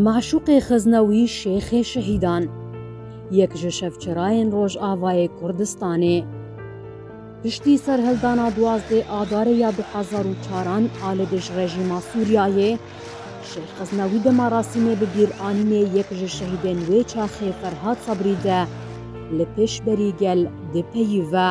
Maşûqê Xeznewî Şêxê Şehîdan, yek ji şevçirayên Rojavayê Kurdistanê, piştî serhildana duwazdeh Adarê ya du hezar û çar an a li dij rejîma Sûriyeyê, Şêx Xeznewî di merasîmê bi bîranînê yek ji şehîdên wê çaxê Ferhad Sabrî de li pêşberî gel dipeyîve.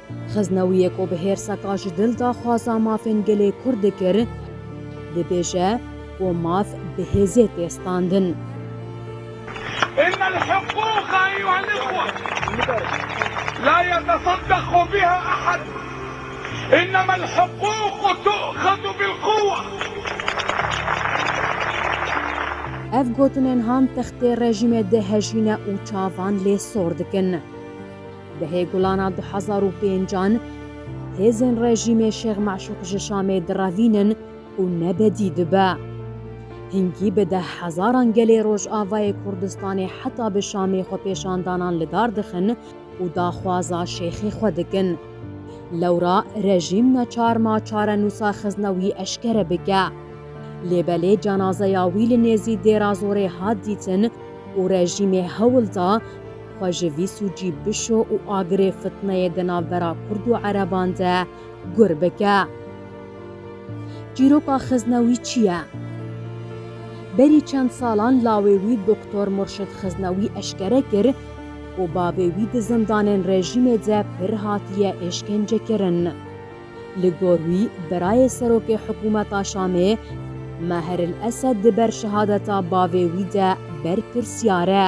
Xeznewiyê ku bi hêrseka ji dil de xwaza mafên gelê Kurd dikir, dibêje ku maf bi hêzê tê standin. Ev gotinên han textê rejîmê dê hejîne û çavan lê sor dikin. Di hêgulana du hezar û pênc an hêzên rejîmê Şêx Meşûq ji Şamê direvînin û nebedî dibe. Hingî bi deh hezaran gelê Rojavayê Kurdistanê heta bi Şamê xwepêşandanan li dar dixin û daxwaza Şêxê xwe dikin. Lewra rejîm neçar ma çarenûsa xizne wî eşkere bike. Lê belê cenazeya wî li nêzî Dêrazorê hat dîtin û rejîmê hewl da, Xwe ji vî sûcî bişo û agirê fitneyê di navbera Kurd û Ereban de gur bike. Çîroka xizna wî çi ye? Berî çend salan lawê wî Doktor Murşid Xiznewî eşkere kir ku bavê wî di zindanên rejîmê de pir hatiye êşkencekirin. Li gor wî birayê serokê hikûmeta Şamê Maher El Esed di ber şehadeta bavê wî de berpirsyar e.